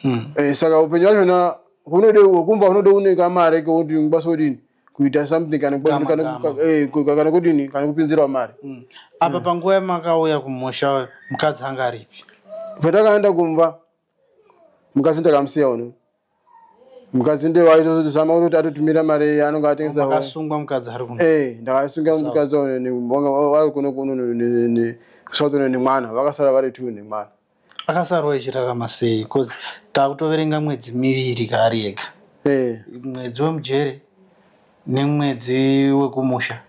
hmm. eh, saka upenyu wachona hunode kumba hunode une kamare kekuti ngibasa kudini kuita something kana eh, kana kudini kana kupinzirwa mari hmm. apa hmm. panguva yamakauya kumusha mukadzi anga aripi patakaenda kumba mukadzi ndakamusiya uno mukadzi ndiye waitozama kuti atotumira mari anonga atengesa hove. akasungwa mukadzi ari kuno Eh, ndakasunga Sawa. mukadzi wavo ne- vanga va- vari kuno kuno ne- ne- ne- kusouth kuno nemwana vakasara vari two nemwana akasarwa echirarama sei bcause takutoverenga mwedzi miviri kaari ega Eh. mwedzi wemujere nemwedzi wekumusha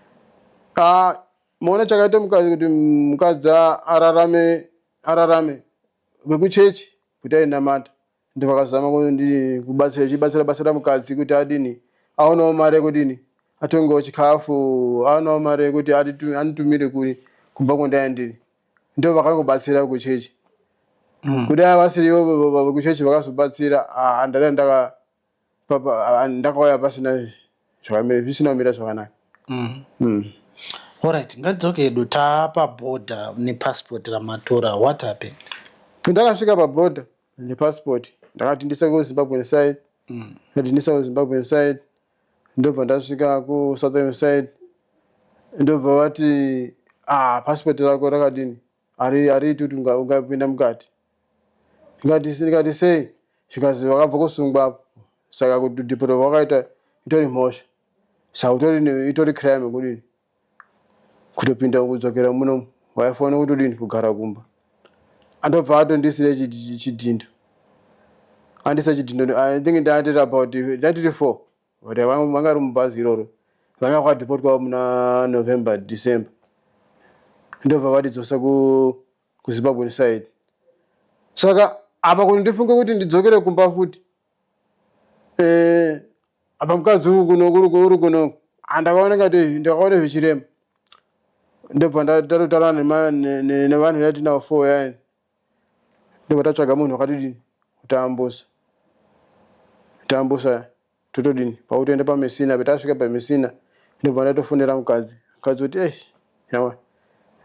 Ah, moona chakaita mukadzi kuti mukadzi a- ararame ararame vekuchechi kuti ainamata ndo vakazama kubatsira chibatsira batsira mukadzi kuti adini aonawo mari yekudini atongewo chikafu aonawo mari yekuti anitumire kuri kumba kwandaya ndiri ndo vakangobatsira vekuchechi mm. kudai vasiriwo vekuchechi vakazobatsira ah, andada ndaka ndakauya pasina zvisina kumira zvakanaka mm. mm. Alright, ngadzoke edu taapa border nepassport ramatora what happened? Ndakasvika paborder nepassport ndakati ndisa kuzimbabwe inside mm. ndati ndisa kuzimbabwe inside ndobva ndasvika kusouth inside ndobva vati ah, passport rako rakadini Hari- hariiti kuti unga- ungapinda mukati ndikati ndikati sei zvikanzi vakabva kusungwa apo saka kudhipota kwakaita itori mhosva saka utori ne- itori crime kudini kutopinda kudzokera muno waifanira kutodini kugara kumba andobva atondisiya chid- chidhindo andisa chidhindo i think ndaatiri about ndatiri four But vanga vanga vari mubhazi iroro vanga vakadhipotwawo muna November December ndobva vatidzosa ku kuZimbabwean side saka apa kuti ndifunge kuti ndidzokere kumba futi eh apa mukadzi uri kuno kuri kuri kuno andakaona ngati ndakaona zvichirema ndobva ndatotaura nevanhu yatinavo four yani ndobva tatsvaga munhu wakatodini utaambusa taambusa totodini pakutoenda pamesina petasvika pamesina ndobva ndatofonera mukadzi mukadzi kuti esh yawa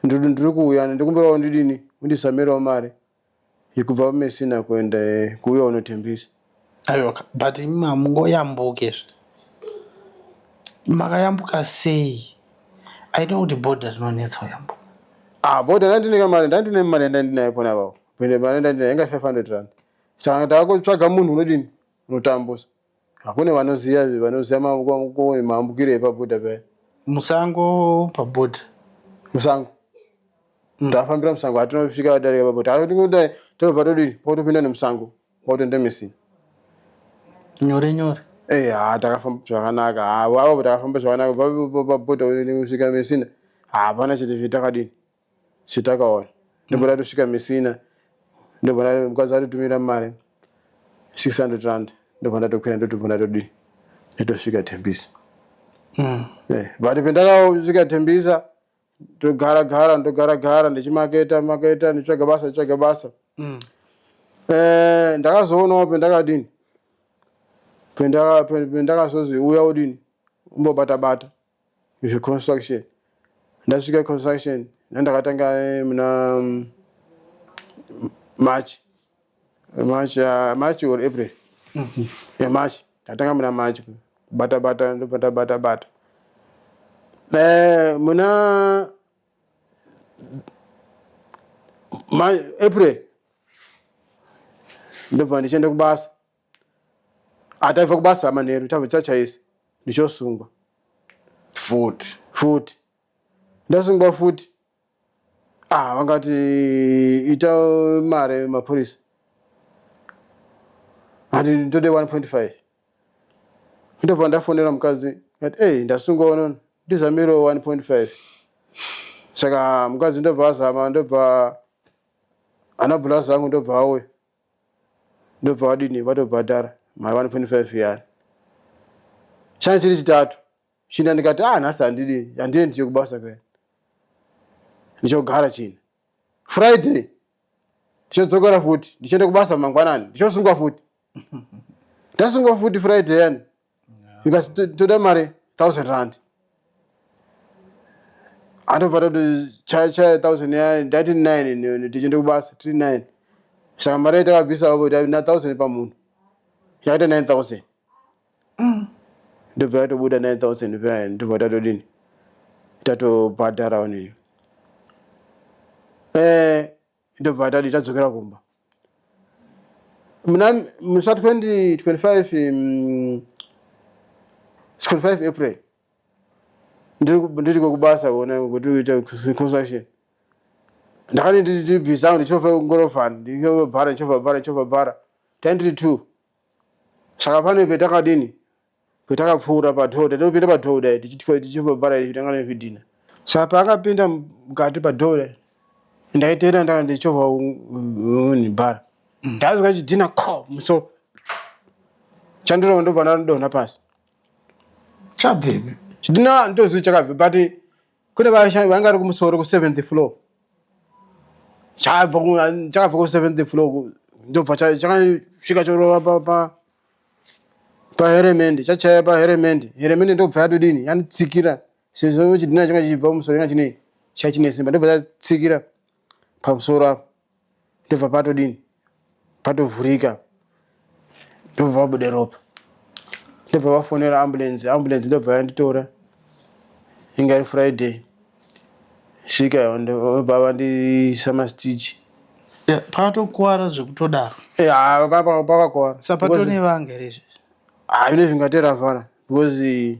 ndiri kuuya ndikumbirawo ndidini undisamirawo mari yekubva pamesina kuenda eh, kuuya unotembisa Ayoka but imimi hamungoyambuke izvi makayambuka sei i know kuti boda rinonetsa kuyambuka ah boda ndandine kamari ndandine mari yandandinayo pona apapo pende mari yandandinayo yanga 500 rand saka taakutsvaga munhu unodini unotambusa hakune vanoziva vanoziva maambukiro epaboda paya musango paboda musango mm. tafambira musango hatinosvika vadarika paboda hatinodai tinobva todini potopinda nemusango Ngokuti ndemisi. Nyore nyore. Hey, eh, haa takafamba zvakanaka haa vavo takafamba zvakanaka vapota kusvika mesina hapana chete zvitakadini zvitakaona ndobona tosvika mesina ndobona mukadzi atotumira mari 600 rand ndobona tokwira ndotobona todii ndotosvika tembisa hmm. eh, but pendakasvika tembisa ndogara gara ndogara gara ndichimaketa maketa nditsvaga basa nditsvaga basa mm. eh, ndakazoonawo pendakadini pendakazozi uya udini umbobata bata zveconstruction ndasvika construction nandakatanga eh, muna mm, march March, uh, March or April. Mm -hmm. Yeah, March. Tatanga muna March. Bata bata bata bata bata. Eh, muna March, April. Ndipo ndichenda kubasa. Ataiva kubasa manheru tava chachaisi. Ndichosungwa. Futi. Futi. Ndasungwa futi. Ah, vakati ita mare mapurisa ati ndode 1.5 ndobva ndafonera mukadzi ati ei ndasungwa unono ndizamiro 1.5 saka mukadzi ndobva azama ndobva ana bhurazi angu ndobva auya ndobva vadini vatobhadhara mari 1.5 yari chani chiri chitatu china ndikati ah nhasi handidi handiendi chekubasa kwe ndichogara china friday ndichodzokera futi ndichienda kubasa mangwanani ndichosungwa futi ndasungwa futi friday yani because to- toda mari thousand rand anobva tatochaya thousand ya ndati nine ni- ni- tichienda kubasa tiri nine saka mari yatakabvisa avo na thousand pamunhu yakaita nine thousand umm ndobva yatobuda 9000 paya ndobva tatodini tatobhadhara onini eh ndobva tadii tadzokera kumba mna musa 2025 mm, 25 april ndiri ku- ndiri kwekubasa kuona kuti uite construction ndakati ndiri busy angu ndichova ngorofani ndichova bhara ndichova bhara ndichova bhara taindiri two saka pane petakadini petakapfuura padhoo tati topinda padhoo kudai tichivhara izvi tanga nezvidhina saka paakapinda mukati padhoo kudai ndaiteera ndanga ndichovha unibhara ndazwa chidhina ko muso chandirova ndobva ndadonha pasi chabvepi chidhina ndozii chakabve but kune vashandi vanga vari kumusoro kuseventh floor chakabva kuseventh floor ndobva chakasvika chorova paheremendi chachaya paheremendi heremendi ndobva yatodini yanditsikira sezvo chidhina changa chichibva kumusoro changa chine chaichine simba ndobva chatsikira pamusoro apo ndobva patodini patovhurika ndobva pabude ropa ndobva vafonera ambulensi ambulensi ndobva yanditora inga iri friday svika ndobva vandisa mastichi patokuwara zvekutodaro pakakuwara sapatone vanga here izvezvi haine zvingateravhara because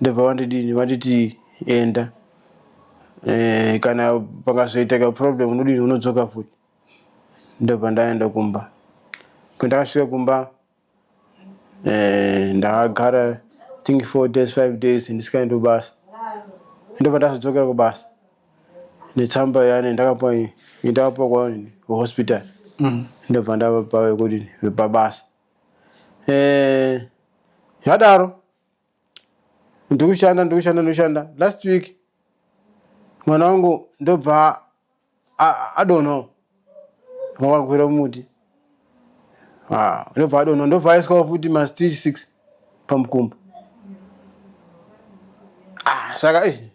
ndobva vandidini vanditi enda eh, kana pakazoitaka problem unodini unodzoka futi ndobva ndaenda kumba kwendakasvika kumba eh, ndakagara think four days five days ndisikaendi kubasa ndobva ndazodzokera kubasa netsamba yani ndakapa ndakapa kwaani hospital mm. ndobva ndavapa vekuti vepabasa eh, zvadaro ndikushanda ndikushanda ndikushanda last week mwana wangu ndobva adonho wakakwira muti ah, ndobva adonho ndobva aiswa futi mastich six pamukumbo ah, saka izvi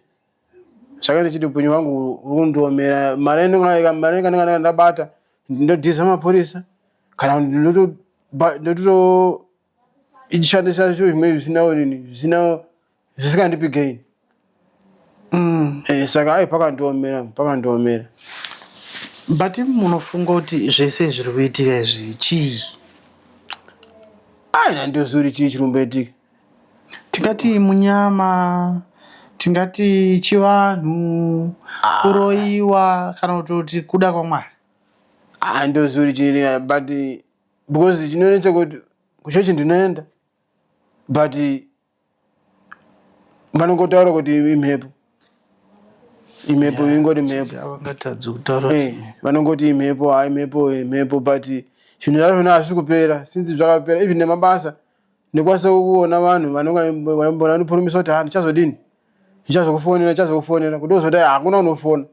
saka ndichiti upenyu hwangu uri kundiomera mari yanenge- mari yanenge ndabata ndodhisa mapurisa kana kuti ndoto- ba- ndoto ichishandisa zviro zvimwe zvisina urini zvisina zvisingandipi gain Mm. Eh, saka ai pakandiomera pakandiomera but munofunga kuti zvese zviri kuitika izvi chii ai nandiozuri chii chiri kumboitika Tingati munyama, tingati chivanhu, kuroiwa kana kutoti kuda kwaMwari. Ah, ndozuri chiri but because chinonetsa kuti kuchechi ndinoenda but vanongotaura kuti imhepo imhepo yeah, ingoti mhepo avangatadzi kutaura hey, eh, vanongoti imhepo ha ah, imhepo imhepo but zvinhu zvazvona hazvisi kupera since zvakapera even nemabasa Ndikwanisa kuona vanhu vanonga ndipurumisa kuti ha ndichazodini ndichazokufonera ndichazokufonera kuti ozoti hakuna unofona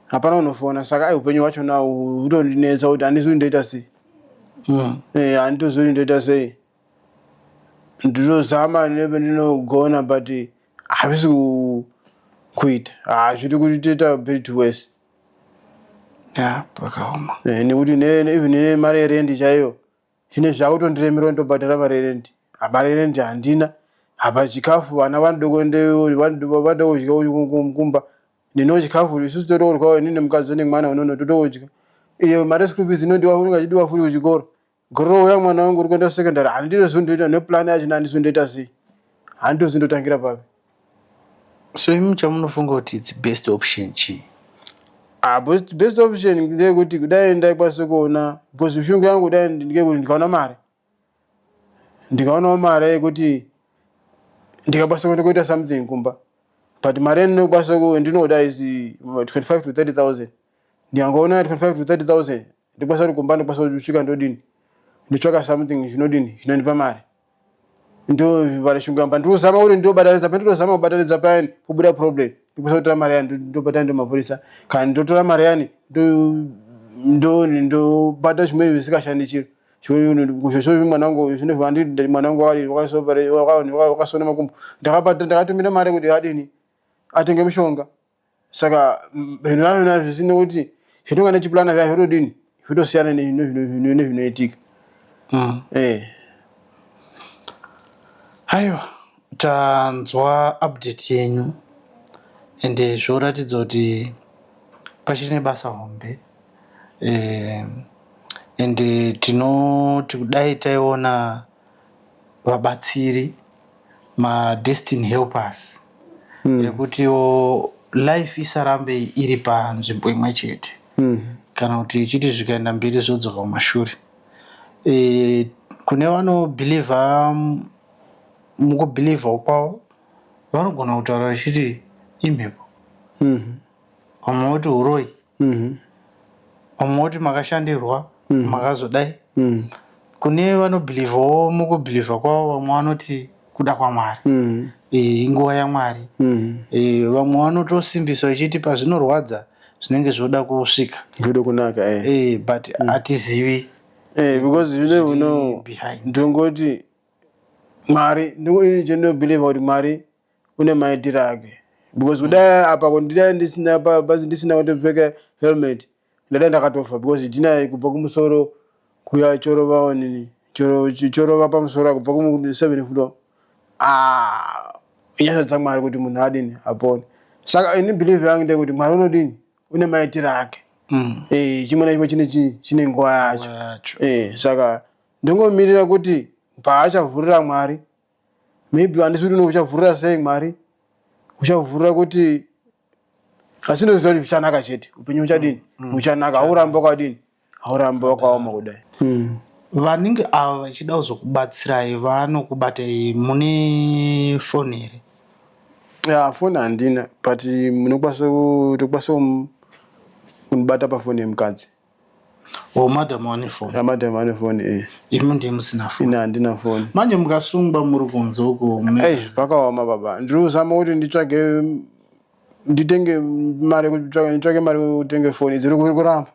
hapana unofona saka ai upenyu hwacho na utondinetsa kuti handizi kuti ndoita sei hmm. eh, handitozivi kuti ndoita sei ndinozama nebe ndinogona but havisi kuita hazviti kuti toita bit wese pakaoma eh, nekuti even nemari yerendi chaiyo Zvine zvakutondiremera ndobhadhara mari yerendi. Mari yerendi handina. Apa chikafu vana vanoda kuenda vanoda kudya kumba. Neniwo chikafu isu totodyawo ini nemukadzi nemwana unono totodya. Iyo mari yeschool fees inodiwa unenge achidiwa futi kuchikoro. Gore rouya mwana wangu uri kuenda secondary handiti zvindoita neplan yacho nani zvindoita sei. Handiti zvindotangira papi. So imi chamunofunga kuti its best option chii? Ah, best, best option ndeyekuti kudai ndaikwanisa kuona because shungu yangu kudai ndeyekuti ndikaona mari ndikaonawo mari yekuti ndikakwanisa kuenda kuita something kumba but mari yandinokwanisa ku- ndinoda is uh, 25 to 30000 ndikangoona 25 to 30000 ndikwanisa kuti kumba ndikwanisa kusvika ndodini nditsvaka something zvinodini zvinondipa mari ndovara shungu yamba ndikuzama kuti ndobatanidza pandinozama kubatanidza payani pobuda problem ndikwanisa kutora mari yani ndobatana ndomapurisa kana ndotora mari yani ndobata zvimweni zvisingashandi chiro mwana wangu zvinozvandii mwana wangu wakasona makumbo ndakatumira mari kuti adini atenge mushonga saka zvinhu zvavo na zvisina kuti zvatinonga tichipurana zviya zvinodini zvitosiyana nezvinoitika mm. eh. aiwa tanzwa update yenyu and zvoratidza kuti pachiri nebasa hombe eh, and tinoti kudai taiona vabatsiri ma destiny helpers ekutiwo life isarambe iri panzvimbo imwe chete kana kuti ichiti zvikaenda mberi zvodzoka kumashure. Kune vano believer muku believer kwavo vanogona kutaura vachiti imhepo. vamwe voti huroyi mhm. vamwe voti makashandirwa mhm. makazodai mhm. kune vanobhilivhawo mukubhilivha kwavo vamwe vanoti kuda kwamwari eh, inguva yamwari eh, vamwe vanotosimbisa vachiti pazvinorwadza zvinenge zvoda kusvika zvoda kunaka eh. but hatizivi because you never know ndongoti mwari ndinobhilivha kuti mwari kune maitiro ake because mm. kudai apa kundidai ndisina basi ndisina kutopfeka helmet ndadai ndakatofa because jina kubva kumusoro kuya chorova onini chorova pamusoro kubva kuseven floor ah, inyasha dzamwari kuti munhu adini apone saka ini believe yangu ndekuti mwari unodini une maitiro ake mm. eh, chimwe nachimwe chine chine nguva yacho eh, saka ndingomirira kuti paachavhurira mwari maybe handisi kuti nouchavhurira sei mwari uchavhurira kuti asi ndoziva kuti zvichanaka chete upenyu uchadini mm, mm. uchanaka hauramba wakadini hauramba wakaoma kudai mm. vanenge ava vachida kuzokubatsirai vanokubatai mune foni here ya foni handina but munokwanisa kutokwanisa kunibata pafoni yemukadzi Oh, madam wane phone. Ah, madam wane phone eh. Imi ndiye musina phone. Ina handina phone. Manje mukasungwa muri kunze uko. Hey, pakaoma baba. Ndiri kuzama kuti nditsvage nditenge mari kutsvage nditsvage mari kutenge phone. Dziri kuri kuramba.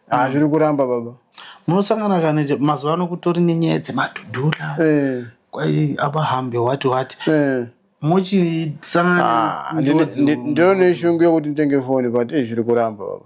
Ah, mm. zviri kuramba baba. Munosangana kana mazuva ano kutori nenyaya dzemadhudhura. Eh. Kwai abahambe what what. Eh. Muchisangana. Ah, ndiro neshungu yekuti nditenge phone but eh zviri kuramba baba.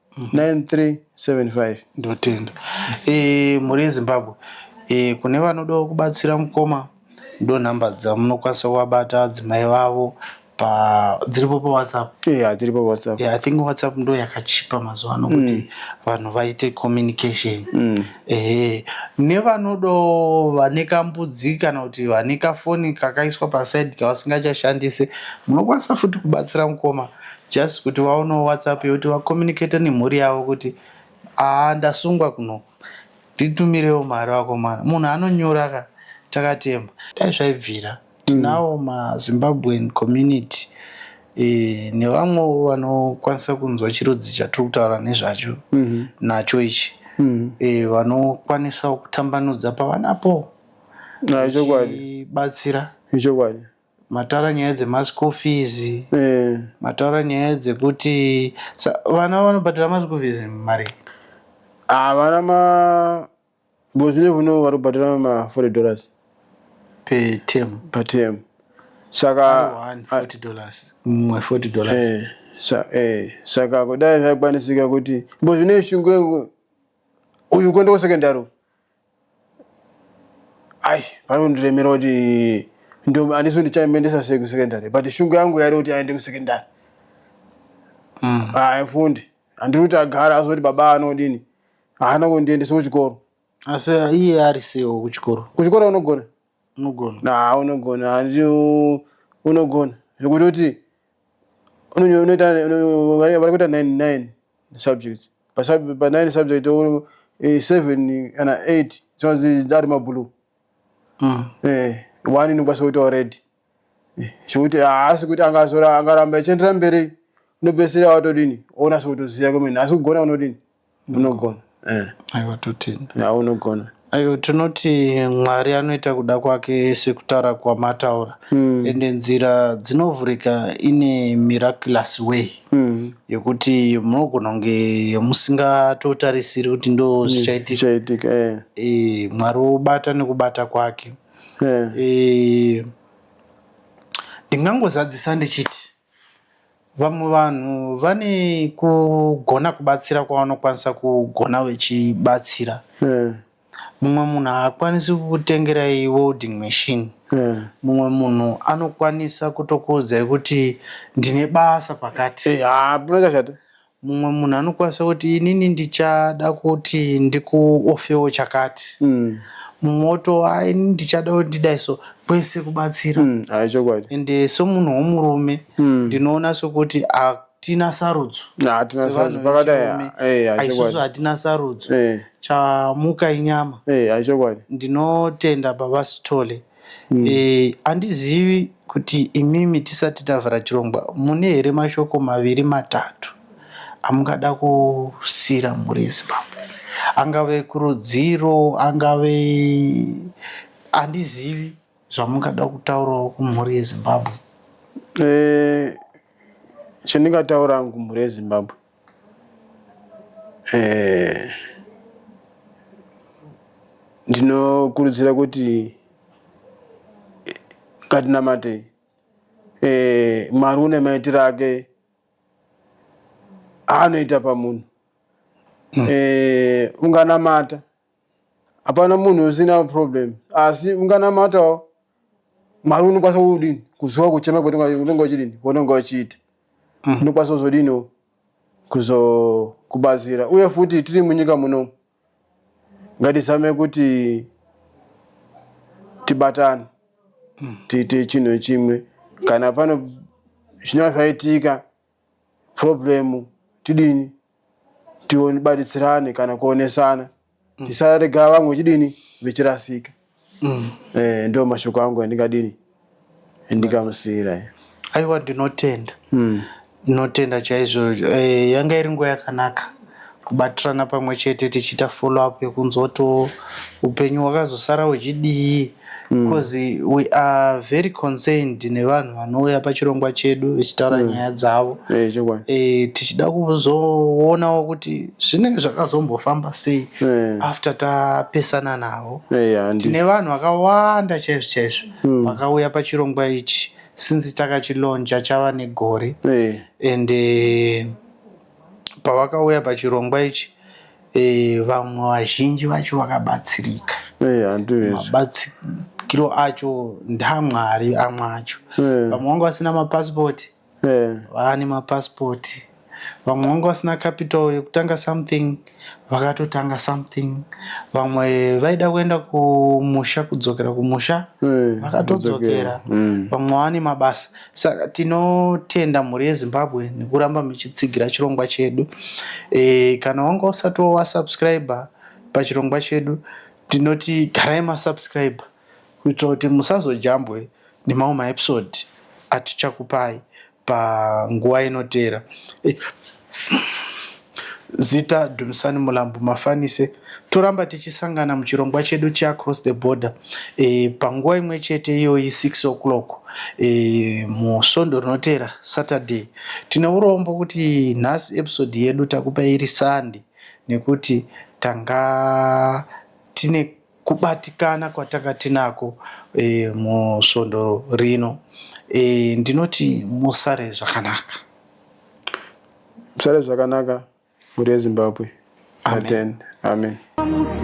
9375 ndotenda e, mhuri yezimbabwe e, kune vanodawo kubatsira mukoma ndonhamba dzamunokwanisa kuvabata adzimai vavo dziripo pawhatsapp yeah, dziripo pawhatsapp yeah, i think whatsapp ndo yakachipa mazuva ano kuti mm. vanhu mm. vaite communication mm. ehe nevanodo vane kambudzi kana kuti vane kafoni kakaiswa pasaidi kavasingachashandise munokwanisa futi kubatsira mukoma Just kuti vaonewo WhatsApp yekuti va communicate nemhuri yavo kuti haa ndasungwa kunoku nditumirewo mari vakomana. Munhu anonyora ka takatemba. Dai zvaibvira. Tinawo ma Zimbabwean community nevamwewo vanokwanisa kunzwa chirudzi chatiri kutaura nezvacho nacho ichi vanokwanisawo kutambanudza pavanapo vachibatsira. Ichokwadi. Mataura nyaya dzema school fees mataura nyaya dzekuti vana vanobhadhara ma school fees marii havana ma because you never know varikubhadhara ma 40 dollars per term per term saka 40 dollars mumwe 40 dollars sa eh saka kudai zvaikwanisika kuti because zvine shungu uyu kuenda kusecondary ai pari kundiremera kuti ndombi handisi kuti chaimuendesa sei kusecondary but shungu yangu yairi kuti aende kusecondary mm. haifundi ah, handiri kuti agara azoti baba anodini haana kundiendesa kuchikoro asi iye ari seiwo kuchikoro kuchikoro unogona Unogona. Nah unogona handi unogona zvekutoti unoita vari kuita 99 subjects pa 9 subject 7 eh, kana 8 dzinonzi ari mablue mm. eh, one inokwanisa kuitawo red eh, zvekuti haasi kuti angaramba achienderera mberi unopedzisira watodini onasa kutoziva kwemene asi kugona unodini unogona eh. aiwa totenda ya unogona aiwa tinoti mwari anoita kuda kwake sekutaura kwamataura mm. ende nzira dzinovhurika ine miraculous way mm. yekuti munogona kunge musingatotarisiri kuti ndo mm. zvichaitika mm. eh. e, mwari wobata nekubata kwake eh. e, ndingangozadzisa ndichiti Vamwe vanhu vane kugona kubatsira kwavanokwanisa kugona vechibatsira. Eh. Mumwe munhu haakwanisi kukutengerai welding machine. Eh. Mumwe munhu anokwanisa kutokuudzai kuti ndine basa pakati. Eh, ah, Mumwe munhu anokwanisa kuti inini ndichada kuti ndikuofewo chakati. Mm. Mumwe oto ah, ini ndichada kuti ndidai so kwese kubatsira. Mm. Ayi chokwadi. Ende somunhu womurume mm. ndinoona sokuti ah, tina sarudzo hatina sarudzo pakadai eh, isusu hatina sarudzo eh. chamuka inyama eh, ndinotenda baba sithole mm. e, andizivi kuti imimi tisati tavhara chirongwa mune here mashoko maviri matatu amungada kusira muresi papa angave kurudziro angave andizivi zvamungada kutaurawo kumhuri yezimbabwe e, chandingataura hangu mhuri yezimbabwe eh, ndinokurudzira kuti ngatinamate eh, mwari une maitiro ake aanoita pamunhu mm. eh, unganamata hapana munhu usina problem asi unganamatawo mwari unokwanisa kudini kuziva kuchema kwaunenge uchidini kwaunenge uchiita mm. unokwanisa kuzodini kuzokubatsira uye futi tiri munyika muno ngatizame kuti tibatane mm. tiite chinhu chimwe kana pano zvinova zvaitika problem tidini tibaditsirane kana kuonesana mm. tisarega vamwe vechidini vechirasika mm. eh, ndo mashoko angu andingadini ndikamusiyira aiwa ndinotenda mm. ndinotenda chaizvo eh, yanga iri nguva yakanaka kubatirana pamwe chete tichiita follow up yekunzwa to upenyu hwakazosara huchidii because mm. we are very concerned nevanhu vanouya pachirongwa chedu vechitaura mm. nyaya dzavo eh, eh, tichida kuzoonawo kuti zvinenge zvakazombofamba sei eh. after tapesana navo tine vanhu vakawanda chaizvo chaizvo mm. vakauya pachirongwa ichi since takachilonja chava negore and pavakauya pachirongwa ichi eh, vamwe vazhinji vacho vakabatsirika eh, mabatsiro acho ndamwari amwe acho eh. vamwe vanga vasina mapasipoti vaane mapasipoti vamwe vanga vasina capital yekutanga something vakatotanga something vamwe vaida kuenda kumusha kudzokera kumusha eh, vakatodzokera mm. vamwe vane mabasa saka tinotenda mhuri yezimbabwe nekuramba muchitsigira chirongwa chedu e, kana wanga usati wasubscribe pachirongwa chedu tinoti garai masubscribe kuitira kuti musazojambwe nemamwe maepisode atichakupai panguva inoteera. Zita, Dumisani Mulambo Mafanise. Toramba tichisangana muchirongwa chedu cheAcross the Border e, panguva imwe chete iyoyi 6 o'clock e, musvondo rinoteera Saturday. Tine urombo kuti nhasi episode yedu takupa iri Sunday nekuti tanga tine kubatikana kwatanga tinako e, musvondo rino e, ndinoti musare zvakanaka musare zvakanaka mhuri yezimbabwe amen, amen. amen.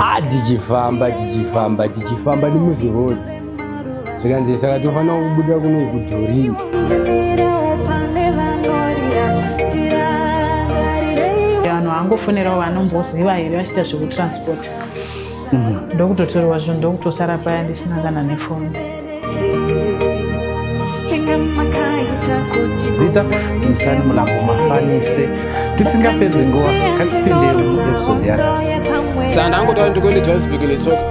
Ah, tichifamba tichifamba tichifamba nemuzirodi zvikanzi saka tofanira kubuda kunoi kudhorini vanhu vangofonerawo vanomboziva here vachiita zvekutransport mm. ndokutotorwa zvinhu ndokutosara paya ndisina kana nefoni zita timusani mulambo mafanise tisingapedzi nguva katipindei muepisode yanasi saka ndangotaura ndikuende johannesburg netsoka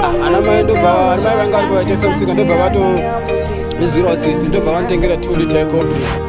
ah, ana mai ndobva ana mai vanga vari kuvaitesa musika ndobva vato nezvirwa tsitsi ndobva vanditengera two liter coffee